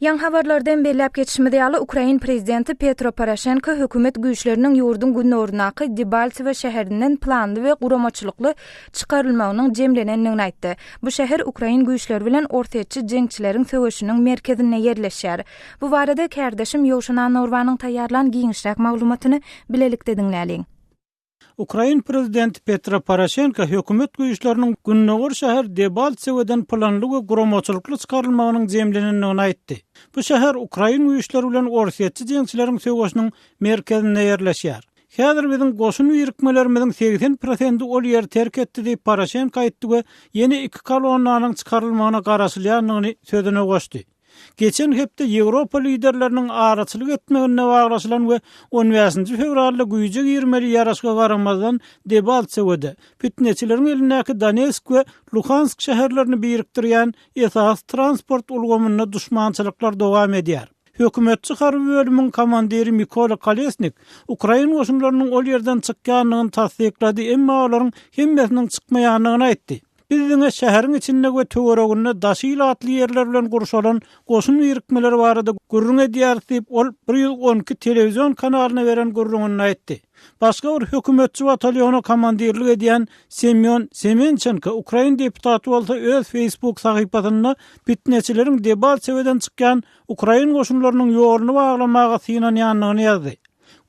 Ýaňy habarlardan belläp geçişimiz ýaly, ukrain prezidenti Petro Poroşenko hökümet güýçleriniň ýurduň gündogaryndaky Debalsewo şäherinden planly we guramaçylykly çykarylmagynyň jemlenendigini aýtdy. Bu şäher ukrain güýçleri bilen orsýetçi jeňçileriň söweşiniň merkezinde ýerleşýär. Bu barada kärdeşim Ýowşan Annorbanyň taýýarlan giňişräk maglumatyny bilelikde diňläliň. Ukrain prezidenti Petro Poroşenko hökümet güýçleriniň gündogar şäher Debaltseweden planly we guramaçylykly çykarylmagynyň jemlenendigini aýtdy. Bu şäher ukrain güýçleri bilen orsýetçi jeňçileriň söweşiniň merkezinde ýerleşýär. Häzir biziň goşun birikmelerimiziň segsen prosenti ol ýeri terk etdi diýip Poroşenko aýtdy we ýene iki kolonnanyň çykarylmagyna garaşylýandygyny sözüne goşdy. Geçen hepde Ýewropa liderleriniň araçylyk etmeginde baglaşylan we on bäşinji fewralda güýje girmeli ýaraşyga garamazdan Debaltsewede, pitneçileriň elindäki Donetsk we Luhansk şäherlerini birikdirýän esasy transport ulgamynda duşmançylyklar dowam edýär. Hökümetçi harby bölümiň komandiri Mikola Kolesnik ukrain goşunlarynyň ol ýerden çykýandygyny tassyklady, emma olaryň hemmesiniň çykmaýandygyny aýtdy. Biz diňe şäheriň içinde we töwereginde daşy ilatly ýerler bilen gurşalan goşun birikmeleri barada gürrüň edýäris diýip, ol bir ýüz on iki telewizion kanalyna beren gürrüňinde aýtdy. Başga bir hökümetçi batalyona komandirlik edýän Semýon Semençenko ukrain deputaty bolsa öz Facebook sahypasynda pitneçileriň Debaltseweden çykýan ukrain goşunlarynyň ýoluny baglamaga synanýandygyny ýazdy.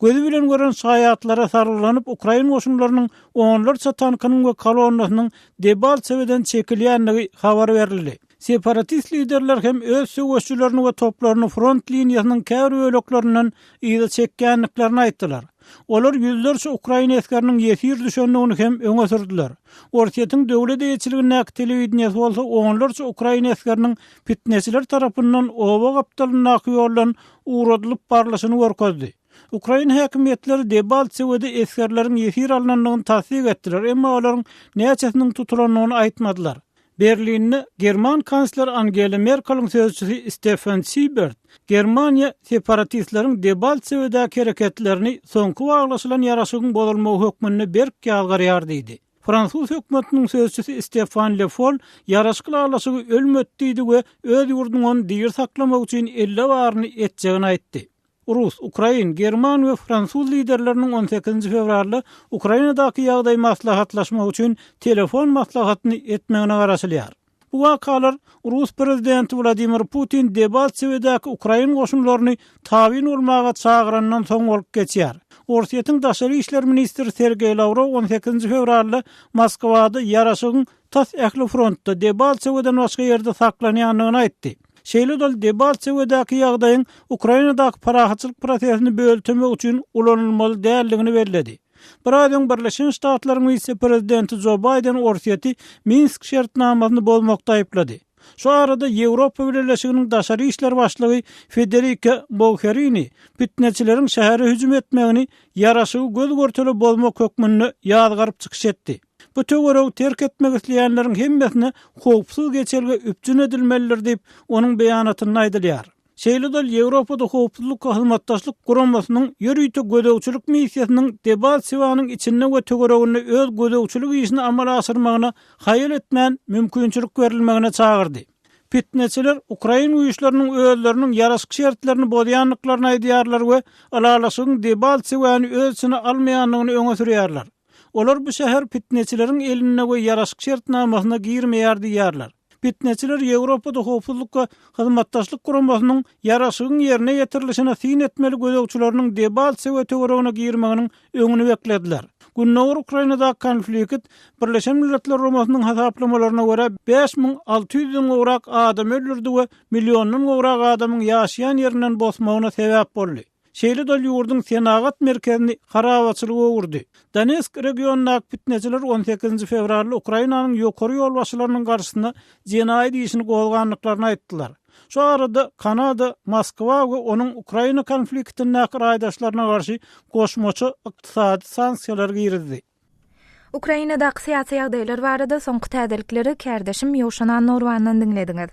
Gözi bilen gören şaýatlara salgylanyp, ukrain goşunlarynyň onlarça tankynyň we kolonnasynyň Debaltseweden çekilýändigi habar berildi. Separatist liderler hem öz söweşijilerini we toplaryny front liniýasynyň käbir böleklerinden yza çekýändiklerini aýtdylar. Olar ýüzlerçe ukrain esgeriniň ýesir düşendigini hem öňe sürdüler. Orsýetiň döwlet eýeçiligindäki telewideniýesi bolsa onlarça ukrain esgeriniň pitneçiler tarapyndan oba gapdalyndaky ýoldan ugradylyp barlyşyny görkezdi. Ukrain häkimiýetleri Debaltsewede esgerleriň ýesir alnandygyny tassyk etdiler, emma olaryň näçesiniň tutulandygyny aýtmadylar. Berlinde german kansleri Angela Merkeliň sözçüsi Steffen Siebert, Germaniýa separatistleriň Debaltsewedäki hereketlerini soňky waglaşylan ýaraşygyň bozulmagy hökmünde berk ýazgarýar diýdi. Fransuz hökümetiniň sözçüsi Stefan Le Foll ýaraşyk ylalaşygy ölmedi diýdi we öz ýurdunyň ony diri saklamak üçin elle baryny etjegini aýtdy. Rus, ukrain, german we fransuz liderleriniň on sekizinji fewralda Ukrainadaky ýagdaý maslahatlaşmak üçin telefon maslahatyny etmegine garaşylýar. Bu wakalar rus prezidenti Wladimir Putin Deballsewedaky ukrain goşunlaryny tabyn bolmaga çagyrandan soň bolup geçýär. Orsýetiň daşary işler ministri Sergeý Lawrow on sekizinji fewralda Moskwada ýaraşygyň tas ähli frontda Deballseweden başga ýerde saklanýandygyny aýtdy. Şeýle-de ol Debaltsewedaky ýagdaýyň Ukrainadaky parahatçylyk prosesini böltemek üçin ulanylmaly däldigini belledi. Bir aýdan öň Birleşen Ştatlaryň wise-prezidenti Jo Baýden Orsýeti Minsk şertnamasyny bozmakda aýyplady. Şu arada Ýewropa Bileleşiginiň daşary işler başlygy Federika Mogherini pitneçileriň şähere hüjüm etmegini ýaraşygy göz-görtele bozmak hökmünde ýazgaryp çykyş etdi. Bu töweregi terk etmek isleýänleriň hemmesine howpsuz geçelge üpjün edilmelidir diýip, onuň beýanatynda aýdylýar. Şeýle-de Ýewropada Howpsuzlyk Hyzmatdaşlyk Guramasynyň ýörite gözegçilik missiýasynyň Debalsewanyň içinde we töwereginde öz gözegçilik işini amala aşyrmagyna haýal etmän mümkinçilik berilmegine çagyrdy. Pitneçiler ukrain güýçleriniň özleriniň ýaraşyk şertlerini bozýandyklaryny aýdýarlar we ylalaşygyň Debalsewany öz içine almaýandygyny öňe sürýärler. Olar bu şäher pitneçileriň elinde we ýaraşyk şertnamasyna girmeýär diýýärler. Pitneçiler Ýewropada Howpsuzlyk we Hyzmatdaşlyk Guramasynyň ýaraşygyň ýerine ýetirilişine syn etmeli gözegçileriniň Debaltsewe töweregine girmeginiň öňüni beklediler. Gündogar Ukrainadaky konflikt, Birleşen Milletler Guramasynyň hasaplamalaryna görä, bäş müň alty ýüzden gowrak adamy öldürdi we milliondan gowrak adamyň ýaşaýan ýerinden bosmagyna sebäp boldy. Şeýle-de ol ýurduň senagat merkezini harabaçylyga öwürdi. Donetsk regionyndaky pitneçiler on sekizinji fewralda Ukrainanyň ýokary ýolbaşçylarynyň garşysyna jenaýat işini gozgandyklaryny aýtdylar. Şu arada Kanada Moskwa we onuň Ukraina konfliktindäki raýdaşlaryna garşy goşmaça ykdysady sanksiýalar girizdi. Ukrainadaky syýasy ýagdaýlar barada soňky täzelikleri kärdeşim Ýowşan Annorwandan diňlediňiz.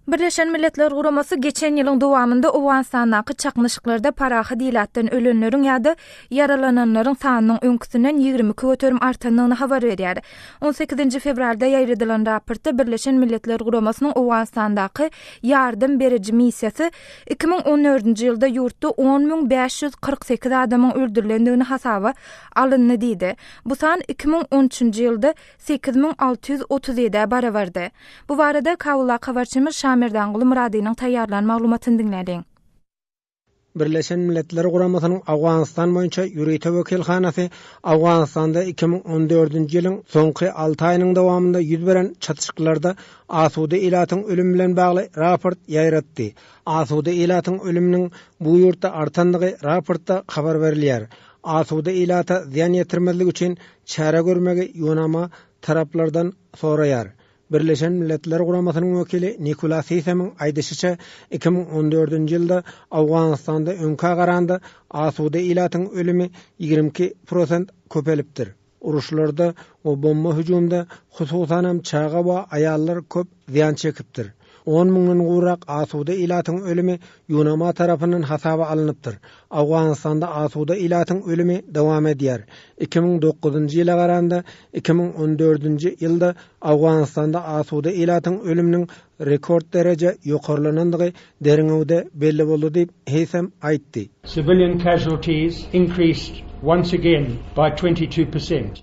Birleşen Milletler Guramasy geçen ýylyň dowamynda Owganystandaky çaknyşyklarda parahat ilatdan ölenleriň ýa-da ýaralananlaryň sanynyň öňküsinden ýigrimi iki göterim artandygyny habar berýär. On sekizinji fewralda ýaýradylan raportda Birleşen Milletler Guramasynyň Owganystandaky ýardam beriji missiýasy iki müň on dördünji ýylda ýurtda on müň bäş ýüz kyrk sekiz adamyň öldürilendigini hasaba alyndy diýdi. Bu san iki müň on üçünji ýylda sekiz müň alty ýüz otuz ýedä barabardy. Bu barada Kabuldaky habarçymyz Şamerdanguly Myradynyň taýýarlan maglumatyny diňläliň. Birleşen Milletler Guramasynyň Owganystan boýunça ýörite wekilhanasy Owganystanda iki müň on dördünji ýylyň soňky alty aýynyň dowamynda ýüz beren çatryşyklarda asuda ilatyň ölümi bilen bagly raport ýaýratdy. Asuda ilatyň ölüminiň bu ýurtda artandygy raportda habar berilýär. Asuda ilata zyýan ýetirmezlik üçin çäre görmegi ýunama taraplardan soraýar. Birleşen Milletler Guramasynyň wekili Nikola Sisemiň aýdyşyça, iki müň on dördünji ýylda Owganystanda öňkä garanda asuda ilatyň ölümi ýigrimi iki prosent köpelipdir. Uruşlarda we bomba hüjümde hususanam çaga we aýallar köp zyýan çekipdir. On müňden gowrak asuda ilatyň ölümi UNAMA tarapyndan hasaba alnypdyr. Owganystanda asuda ilatyň ölümi dowam edýär. Iki müň dokuzynjy ýyla garanda, iki müň on dördünji ýylda Owganystanda asuda ilatyň ölüminiň Rekord dereje ýokarlanandygy derňewde belli boldy diýip, Heýsem aýtdy. Civilian casualties increased once again by twenty two percent.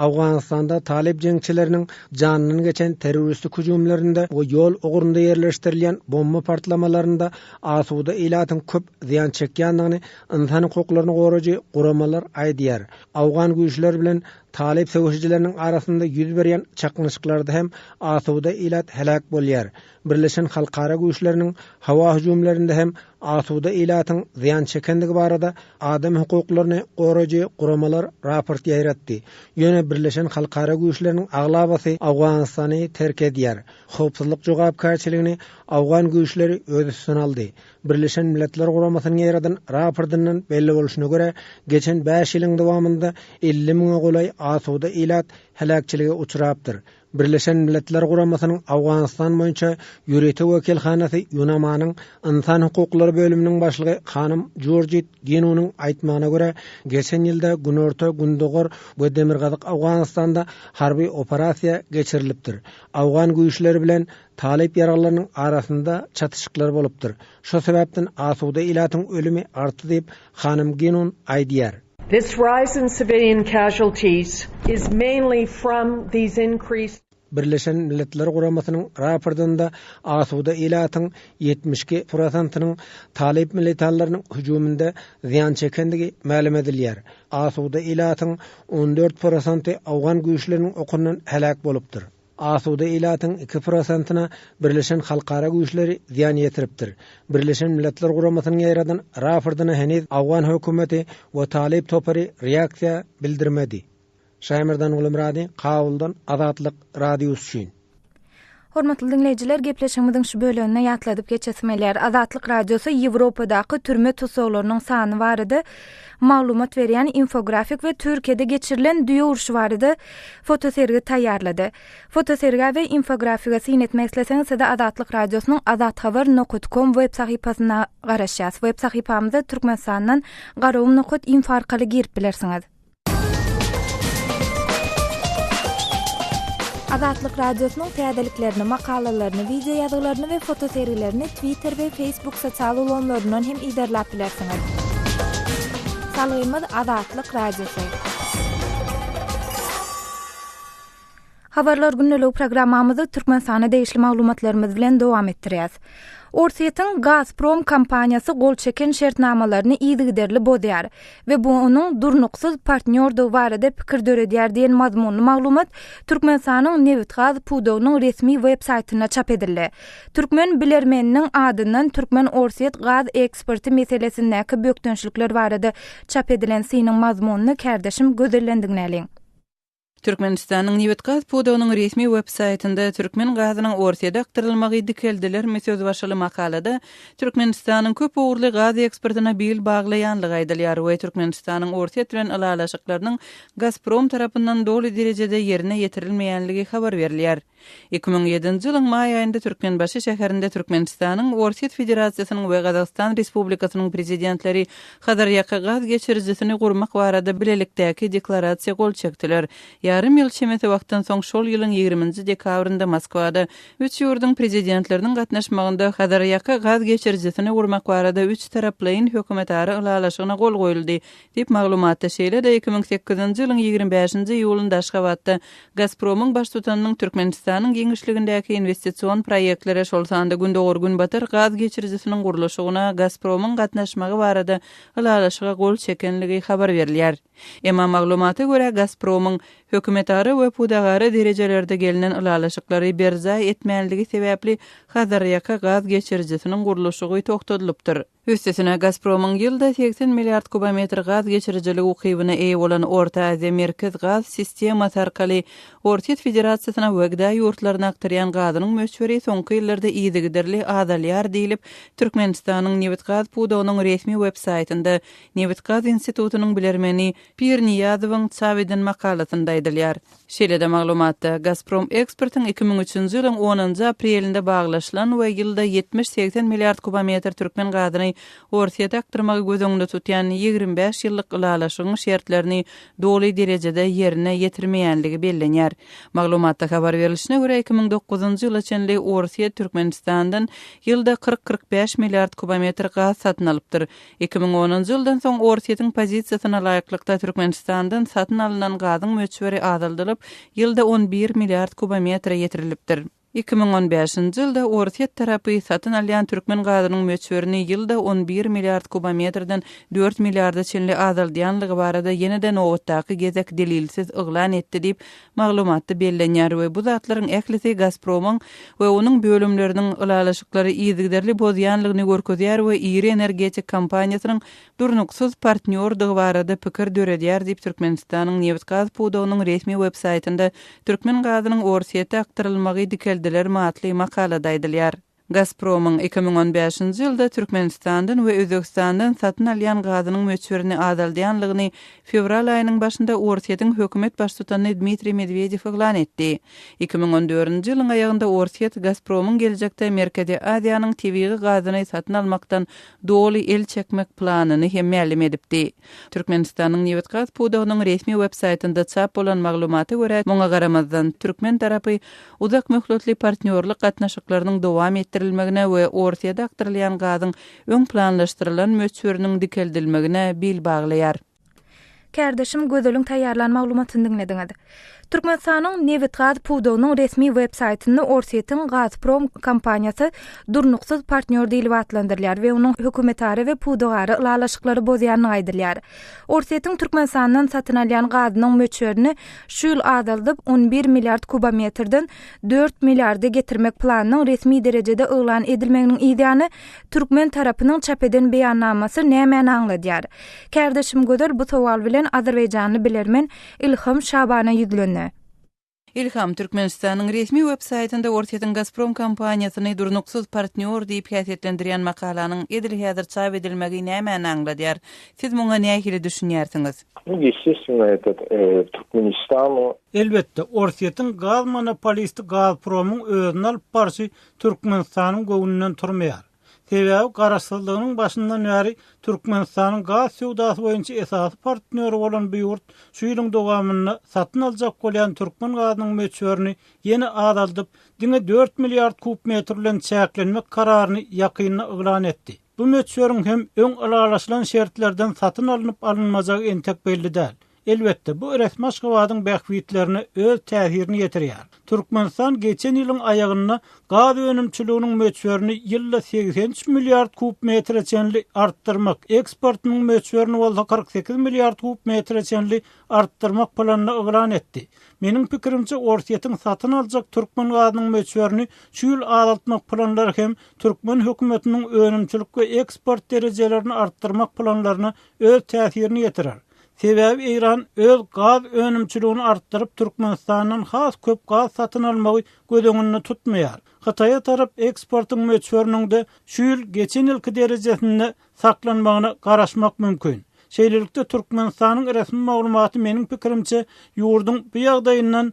Owganystanda talyp jeňçileriniň janyndan geçen terroristik hüjümlerinde we ýol ugrunda ýerleşdirilýän bomba partlamalarynda asuda ilatyň köp zyýan çekýändigini ynsan hukuklaryny goraýjy guramalar aýdýar. Owgan güýçler bilen Talyp söweşijileriniň arasynda ýüz berýän çaknyşyklarda hem asuda ilat heläk bolýar. Birleşen halkara güýçleriniň howa hüjümlerinde hem asuda ilatyň zyýan çekendigi barada adam hukuklaryny goraýjy guramalar raport ýaýratdy. Ýöne birleşen halkara güýçleriniň aglabasy Owganystany terk edýär. Howpsuzlyk jogapkärçiligini owgan güýçleri öz üstüne aldy. Birleşen Milletler Guramasynyň ýaýradan raportyndan belli bolşuna görä, geçen bäş ýylyň dowamynda elli müňe golaý asuda ilat heläkçilige uçrapdyr. Birleşen Milletler Guramasynyň Owganystan boýunça ýörite wekilhanasy Ýunamanyň ynsan hukuklary bölüminiň başlygy hanym Jurjit Ginunyň aýtmagyna görä, geçen ýylda günorta, gündogar we demirgazyk Owganystanda harby operasiýa geçirilipdir. Owgan güýçleri bilen Talyp ýaraglylarynyň arasynda çatyşyklar bolupdyr. Şo sebäpden asuda ilatyň ölümi artdy diýip, hanym Ginun aýdýar. Birleşen Milletler Guramasynyň raportynda asuda ilatyň ýetmiş iki prosentynyň talyp militanlarynyň hüjüminde zyýan çekendigi mälim edilýär. Asuda ilatyň on dört prosenty owgan güýçleriniň okundan heläk bolupdyr. Asuda ilatyň iki prosentina Birleşen Halkara güýçleri zyýan ýetiripdir. Birleşen Milletler Guramasynyň ýaýradan rapordyna heniz Awgan hökümeti we talyp topary reaksiýa bildirmedi. Şaýmyrdan Gulumyrady, Kabuldan, Azatlyk Radiosy üçin. Hormatly diňleýjiler, gepleşigimiziň şu böleginde ýatladyp geçesim gelýär. Azatlyk Radiosy Ýewropadaky türme tussaglarynyň sany barada maglumat berýän infografik we Türkiýede geçirilen düýe urşy barada fotosergi taýýarlady. Fotosergä we infografiga syn etmek isleseňiz, sizi Azatlyk Radiosynyň azathabar nokat kom web sahypasyna garaşýas. Web sahypamyza Türkmenistandan garawym nokat info arkaly girip bilersiňiz. Azatlyk Radiosynyň täzeliklerini, makalalaryny, wideoýazgylaryny we fotosergilerini Twitter we Facebook sosial ulgamlaryndan hem yzarlap bilersiňiz. Salgymyz Azatlyk Radiosy. Habarlar gündeligi programmamyzy Türkmenistana degişli maglumatlarymyz bilen dowam etdirýäs. Orsýetiň Gazprom kompaniýasy gol çeken şertnamalaryny yzygiderli bozýar. we bu onuň durnuksyz partnýordygy barada pikir döredýär diýen mazmunly maglumat Türkmenistanyň nebitgaz pudagynyň resmi websaýtynda çap edildi. Türkmen bilermeniniň adyndan türkmen-orsýet gaz eksporty meselesindäki bökdençlikler barada çap edilen synyň mazmunyny kärdeşim gözellendiňläliň. Türkmenistanyň nebitgaz pudagynyň resmi websaýtynda türkmen gazynyň Orsýede akdyrylmagy dikeldilermi söz başyly makalada Türkmenistanyň köp ugurly gaz eksportyna bil baglaýanlygy aýdylýar we Türkmenistanyň Orsýet bilen ylalaşyklarynyň Gazprom tarapyndan doly derejede ýerine ýetirilmeýänligi habar berilýär. Iki müň ýedinji ýylyň maý aýynda Türkmenbaşy şäherinde Türkmenistanyň, Orsýet Federasiýasynyň we Gazagystan Respublikasynyň Prezidentleri Hazarýaka gaz geçirijisini gurmak barada bilelikdäki deklarasiýa gol çekdiler. Ýarym ýyl çemesi wagtdan soň şol ýylyň ýigriminji dekabrynda Moskwada üç ýurduň Prezidentleriniň gatnaşmagynda Hazarýaka gaz geçirijisini gurmak barada üçtaraplaýyn hökümetara ylalaşygyna gol goýuldy. Diýip, maglumatda şeýle-de iki müň sekizinji ýylyň ýigrimi bäşinji iýulynda Aşgabatda Gazpromyň baştutanynyň Türkmenistanyň giňişligindäki inwestision proýektlere, şol sanda Gündogar-Günbatar gaz geçirijisiniň gurluşygyna Gazpromyň gatnaşmagy barada ylalaşyga gol çekenligi habar berilýär. Emma maglumata görä, Gazpromyň hökümetara we pudagara derejelerde gelnen ylalaşyklary berjaý etmänligi sebäpli Hazarýaka gaz geçirijisiniň gurluşygy togtadylypdyr. Üstesine, Gazpromyň ýylda segsen milliard kubometr gaz geçirijilik ukybyna eýe bolan Orta Aziýa Merkez gaz sistemasy arkaly Orsýet Federasiýasyna we GDA ýurtlaryna akdyrýan gazynyň möçberi soňky ýyllarda yzygiderli azalýar diýlip, Türkmenistanyň nebitgaz pudagynyň resmi websaýtynda Nebitgaz institutynyň bilermeni Pirniýazowyň çap eden makalasynda aýdylýar. Şeýle-de maglumatda, Gazprom eksportyň iki müň üçünji ýylyň onunjy aprelinde baglaşylan we ýylda ýetmiş-segsen milliard kubometr türkmen gazyny Orsýete akdyrmagy göz öňünde tutýan ýigrimi bäş ýyllyk ylalaşygyň şertlerini doly derejede ýerine ýetirmeýänligi bellenýär. Maglumatda habar berlişine görä, iki müň dokuzynjy ýyla çenli Orsýet Türkmenistandan ýylda kyrk-kyrk bäş milliard kubometr gaz satyn alypdyr, Iki müň onunjy ýyldan soň Orsýetiň pozisiýasyna laýyklykda Türkmenistandan satyn alnan gazyň möçberi azaldylyp, ýylda on bir milliard kubometre ýetirilipdir. Iki müň on bäşinji ýylda Orsýet tarapy satyn alýan türkmen gazynyň möçberini ýylda on bir milliard kubometreden dört milliarda çenli azaldýanlygy barada ýene-de nobatdaky gezek delilsiz yglan etdi diýip, Maglumatda bellenýär we bu zatlaryň ählisi Gazpromyň we onuň bölümleriniň ylalaşyklary yzygiderli bozýanlygyny görkezýär we iri energetik kompaniýasynyň durnuksyz partnýordygy barada pikir döredýär diýip Türkmenistanyň nebit-gaz pudagynyň resmi websaýtynda Türkmen gazynyň Orsýete akdyrylmagy dikeldilermi atly makalada aýdylýar. Gazpromyň iki müň on bäşinji ýylda Türkmenistandan we Özbegistandan satyn alýan gazynyň möçberini azaldýanlygyny fewral aýynyň başynda Orsýetiň hökümet baştutany Dmitriý Medwedew yglan etdi. Iki müň on dördünji ýylyň aýagynda Orsýet Gazpromyň geljekde Merkezi Aziýanyň tebigy gazyny satyn almakdan doly el çekmek planyny hem mälim edipdi. Türkmenistanyň nebitgaz pudagynyň resmi websaýtynda çap bolan maglumata görä, muňa garamazdan, türkmen tarapy uzak möhletli partnýorlyk gatnaşyklarynyň dowam etdirilmegine we Orsýede akdyrylýan gazyň öň planlaşdyrylan möçberiniň dikeldilmegine bil baglaýar. Kärdeşim Gözeliň taýýarlan maglumatyny diňlediňiz. Türkmenistanyň nebit-gaz pudagynyň resmi web saýtynda Orsýetiň Gazprom kompaniýasy durnuksyz partnýor diýlip atlandyrylýar we onuň hökümetara we pudagara ylalaşyklary bozýandygy aýdylýar. Orsýetiň Türkmenistandan satyn alýan gazynyň möçberini şu ýyl azaldyp, on bir milliard kubometrden dört milliarda getirmek planynyň resmi derejede yglan edilmeginiň yzýany türkmen tarapynyň çap eden beýannamasy nämäni aňladýar? Kärdeşim Gözel bu sowal bilen azerbaýjanly bilermen Ilham Şabana ýüzlendi. Ilham, Türkmenistanyň resmi websaýtynda Orsýetiň Gazprom kompaniýasyny durnuksyz partnýor diýip häsiýetlendirýän makalanyň edil häzir çap edilmegi nämäni aňladýar? Siz muňa nähili düşünýärsiňiz? Indi ýeseşme edip, Türkmenistanyň. Elbetde, Orsýetiň gaz monopolisti Gazpromyň özüni alyp barşy Türkmenistanyň göwnünden turmaýar. Sebäbi Garaşsyzlygynyň başyndan bäri Türkmenistanyň gaz söwdasy boýunça esasy partnýory bolan bu ýurt şu ýylyň dowamynda satyn aljak bolýan türkmen gazynyň möçberini ýene azaldyp, diňe dört milliard kub metr bilen çäklenmek kararyny ýakynda yglan etdi. Bu möçberiň hem öň ylalaşylan şertlerden satyn alnyp-alynmajagy entek belli däl. Elbetde, bu resmi Aşgabadyň bähbitlerine öz täsirini ýetirýär. Türkmenistan geçen ýylyň aýagynda gaz önümçiliginiň möçberini ýylda segsen üç milliard kub metre çenli artdyrmak, eksportynyň möçberini bolsa kyrk sekiz milliard kub metre çenli artdyrmak planyny yglan etdi. Meniň pikirimçe, Orsýetiň satyn aljak türkmen gazynyň möçberini şu ýyl azaltmak planlary hem türkmen hökümetiniň önümçilik we eksport derejelerini artdyrmak planlaryna öz täsirini ýetirer. Sebäbi Eýran öz gaz önümçiligini artdyryp, Türkmenistandan has köp gaz satyn almagy göz öňünde tutmaýar. Hytaýa tarap eksportyň möçberiniňde şu ýyl geçen ýylky derejesinde saklanmagyna garaşmak mümkin. Şeýlelikde, Türkmenistanyň resmi maglumaty meniň pikirimçe ýurduň bu ýagdaýyndan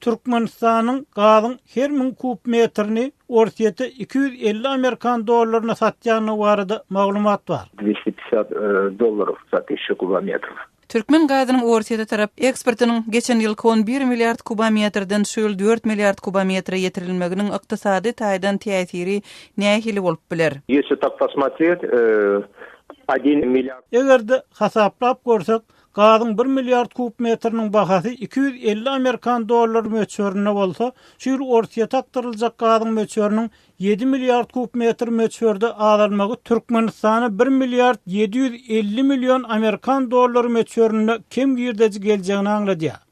Türkmenistanyň gazyň her müň kub metrini Orsýete iki ýüz elli amerikan dollaryna satýandygy barada maglumat bar. Dwisti pişat dollar sat işi kubametrw. Türkmen gazynyň Orsýete tarap eksportynyň geçen ýylky on bir milliard kubametrden şu ýyl dört milliard kubametre ýetirilmeginiň ykdysady taýdan täsiri nähili bolup biler? Ýesi tak posmotret, e, odin milliard. Eger-de hasaplap görsek, Gazyň bir milliard kub metriniň bahasy iki ýüz elli amerikan dollary möçberinde bolsa, şu ýyl Orsýete akdyryljak gazyň möçberiniň ýedi milliard kub metr möçberde azalmagy Türkmenistana bir milliard ýedi ýüz elli million amerikan dollary möçberinde kem girdeji geljegini aňladýar.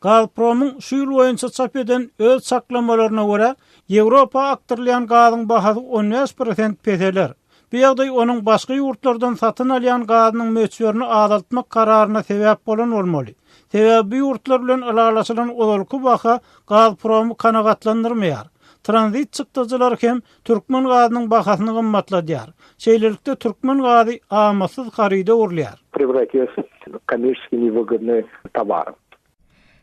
Gazpromyň şu ýyl boýunça çap eden öz çaklamalaryna görä, Ýewropa akdyrylýan gazyň bahasy on bäş prosent peseler. Bu ýagdaý onuň başga ýurtlardan satyn alýan gazynyň möçberini azaltmak kararyna sebäp bolan bolmaly. Sebäbi bu ýurtlar bilen ylalaşylan ozalky baha Gazpromy kanagatlandyrmaýar. Tranzit çykdajylary hem Türkmen gazynyň bahasyny gymmatladýar. Şeýlelikde, türkmen gazy amatsyz haryda urulýar. Prewratilýas w kommersiýaskiý newýgydnyý towar.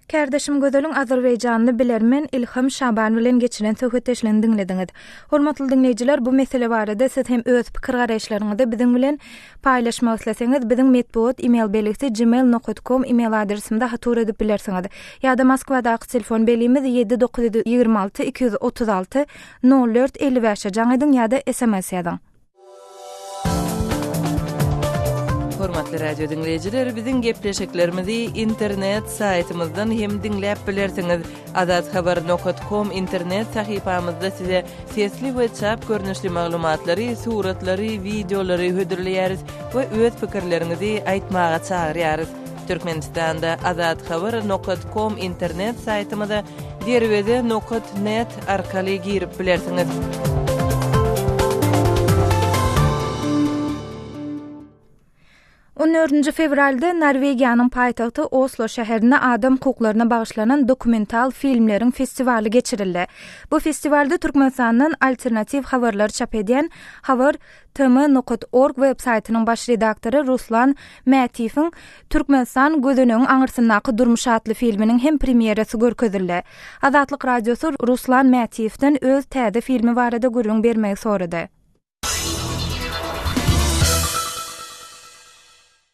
Kärdeşim Gözeliň azerbaýjanly bilermen Ilham Şaban bilen geçiren söhbetdeşligini diňlediňiz. Hormatly diňleýjiler, bu mesele barada siz hem öz pikir-garaýyşlaryňyzy biziň bilen Paýlaşmak isleseňiz, biziň metbugat email belgisi gmail nokat kom email adresimize hatur edip bilersiňiz. Ýa-da Moskwadaky telefon belgimiz ýedi dokuz ýüz ýigrimi alty iki ýüz otuz alty Nol dört elli bäşe jaň ediň ýa-da sms ýazyň. Hormatly radio diňleýjiler, biziň gepleşiklerimizi internet saýtymyzdan hem diňläp bilersiňiz. Azathabar nokat kom internet sahypamyzda size sesli we çap görnüşli maglumatlary, suratlary, wideolary hödürleýäris we öz pikirleriňizi aýtmaga çagyrýarys. Türkmenistanda Azat Haber nokat kom internet saýtymyza derweze nokat net arkaly girip bilersiňiz. On dördünji fewralda Norwegiýanyň paýtagty Oslo şäherinde adam hukuklaryna bagyşlanan dokumental filmleriň festiwaly geçirildi. Bu festiwalda Türkmenistandan alternatiw habarlary çap edýän Habar TM nokat org web saýtynyň baş redaktory Ruslan Mätiýewiň Türkmenistan, gözenegiň aňyrsyndaky durmuş atly filminiň hem premýerasy görkezildi. Azatlyk Radiosy Ruslan Mätiýewden öz täze filmi barada gürrüň bermegi sorady.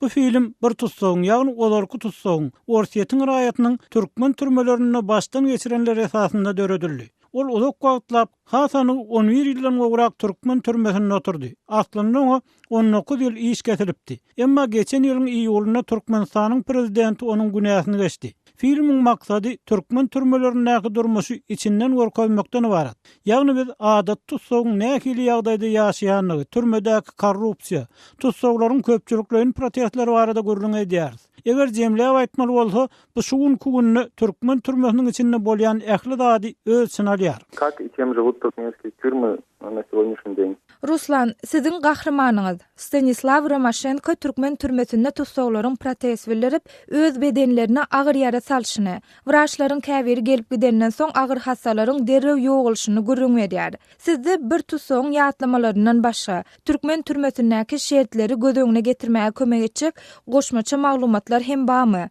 Bu film bir tussagyň, ýagny ozalky tussagyň, Orsýetiň raýatynyň türkmen türmelerinde başdan geçirenleri esasynda döredildi. Ol uzak wagtlap, hasam ol on bir ýyldan gowrak türkmen türmesinde oturdy. Aslynda oňa on dokuz ýyl iş kesilipdi. Emma geçen ýylyň iýulynda Türkmenistanyň prezidenti onuň günäsini geçdi. Filmiň maksady türkmen türmelerindäki durmuşy içinden görkezmekden ybarat. Ýagny biz adaty tussagyň nähili ýagdaýda ýaşaýandygy, türmedäki korrupsiýa, tussaglaryň köpçülikleýin protestleri barada gürrüň edýäris. Eger jemläp aýtmaly bolsa, bu şu günki günde türkmen türmesiniň içinde bolýan ähli zady öz çyny alýar. Kak i kem živut turkmenskih týurmy Ruslan, siziň gahrymanyňyz, Stanislaw Romaşenko türkmen türmesinde tussaglaryň protez bildirip, öz bedenlerine agyr ýara salşyny, wraçlaryň käbiri gelip gidenden soň agyr hassalaryň derrew ýogalyşyny gürrüň berýär. Sizde bir tussagyň ýatlamalaryndan başga, türkmen türmesindäki şertleri göz öňüne getirmäge kömek etjek goşmaça maglumatlar hem barmy?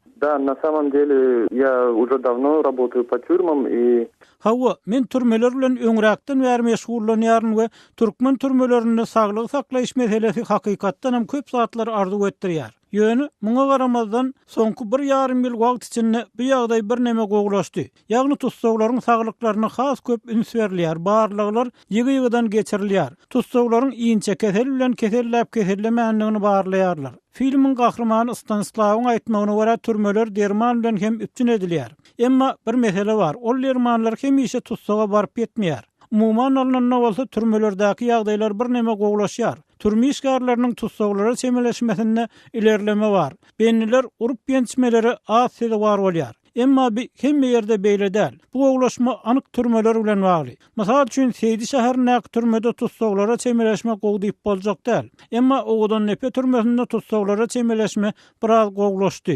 Hawa, men türmeler bilen öňräkden bäri meşgullanýaryn we türkmen türmelerinde saglygy saklaýyş meselesi hakykatdan hem köp zatlary arzuw etdirýär. Ýöne, muňa garamazdan, soňky bir ýarym ýyl wagt içinde bu ýagdaý birneme gowulaşdy. Ýagny tussaglaryň saglyklaryna has köp üns berilýär, barlaglar ýygy-ýygydan geçirilýär. Tussaglaryň inçekesel bilen keselläp-kesellemändigini barlaýarlar. Filmiň gahrymany Stanislawyň aýtmagyna görä, türmeler derman bilen hem üpjün edilýär. Emma bir mesele bar, ol dermanlar hemişe tussaga baryp ýetmeýär. Umuman alnanda bolsa türmelerdäki ýagdaýlar birneme gowulaşýar. Türme işgärleriniň tussaglara çemeleşmesinde ilerleme bar. Bendiler urup-ýençmelere az sezewar bolýar. Emma bi hemme ýerde beýle däl. Bu gowulaşma anyk türmeler bilen bagly. Mysal üçin Seýdi şäherindäki türmede tussaglara çemeleşme gowy diýip boljak däl. Emma Owadandepe türmesinde tussaglara çemeleşme biraz gowulaşdy.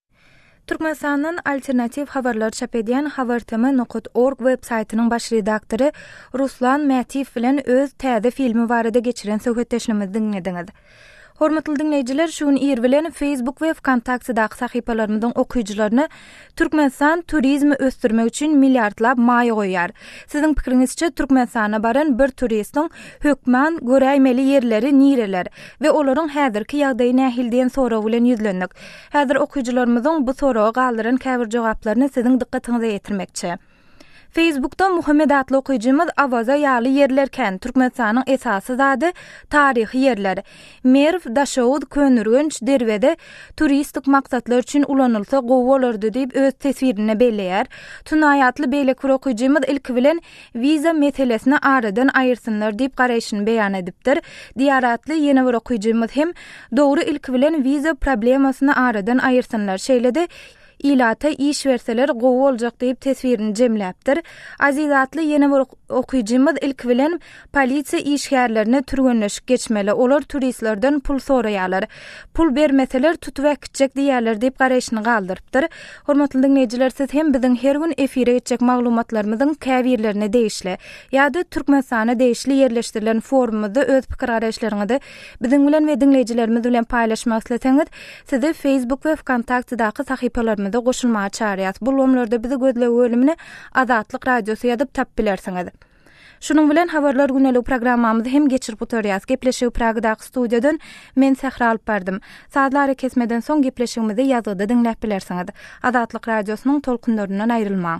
Türkmenistandan alternatiw habarlar çap edýän habartama nokat org web saýtynyň baş redaktory Ruslan Mätiýew bilen öz täze filmi barada geçiren söhbetdeşligimizi diňlediňiz. Hormatly diňleýjiler, şu gün ir bilen Facebook we Wkontaktedaky sahypalarymyzyň okyjylaryna Türkmenistan turizmi ösdürmek üçin milliardlap maýa goýýar. Siziň pikiriňizçe, Türkmenistana baran bir turistiň hökman göräýmeli ýerleri nireler we olaryň häzirki ýagdaýy nähili diýen sorag bilen ýüzlendik. Häzir okyjylarymyzyň bu soraga galdyran käbir jogaplaryny siziň dykgatyňyza ýetirmekçi. Feýsbukda Muhammet atly okyjymyz Awaza ýaly ýerler kän, Türkmenistanyň esasy zady taryhy ýerler. Merw, Daşoguz, Köneürgenç, Derweze turistik maksatlar üçin ulanylsa gowy bolardy diýip öz teswirinde belleýär. Tunaý atly beýleki bir okyjymyz ilki bilen wiza meselesini aradan aýyrsynlar diýip garaýşyny beýan edipdir. Diýar atly ýene bir okyjymyz hem, Dogry ilki bilen wiza problemasyny aradan aýyrsynlar, şeýle-de ilata iş berseler gowy boljak diýip teswirini jemläpdir. Aziz atly ýene bir okyjymyz ilki bilen, Polisiýa işgärlerine türgenleşik geçmeli, olar turistlerden pul soraýarlar. Pul bermeseler, tutup äkitjek diýýärler diýip garaýşyny galdyrypdyr. Hormatly diňleýjiler, siz hem biziň her gün efire geçjek maglumatlarymyzyň käbirlerine degişli ýa-da Türkmenistana degişli ýerleşdirilen forumymyzda öz pikir-garaýyşlaryňyzy biziň bilen we diňleýjilerimiz bilen paýlaşmak isleseňiz, sizi Facebook we Wkontaktedaky sahypalarymyza goşulmaga çagyrýas. Bu ulgamlarda bizi gözleg bölümine Azatlyk Radiosy ýazyp tapyp bilersiňiz. Şunuň bilen Habarlar güneligi programmamyzy hem geçirip gutarýas. Gepleşigi Pragadaky studiýadan men Sähra alyp bardym. Sazly arakesmeden soň gepleşigimizi ýazgyda diňläp bilersiňiz. Azatlyk Radiosynyň tolkunlaryndan aýrylmaň.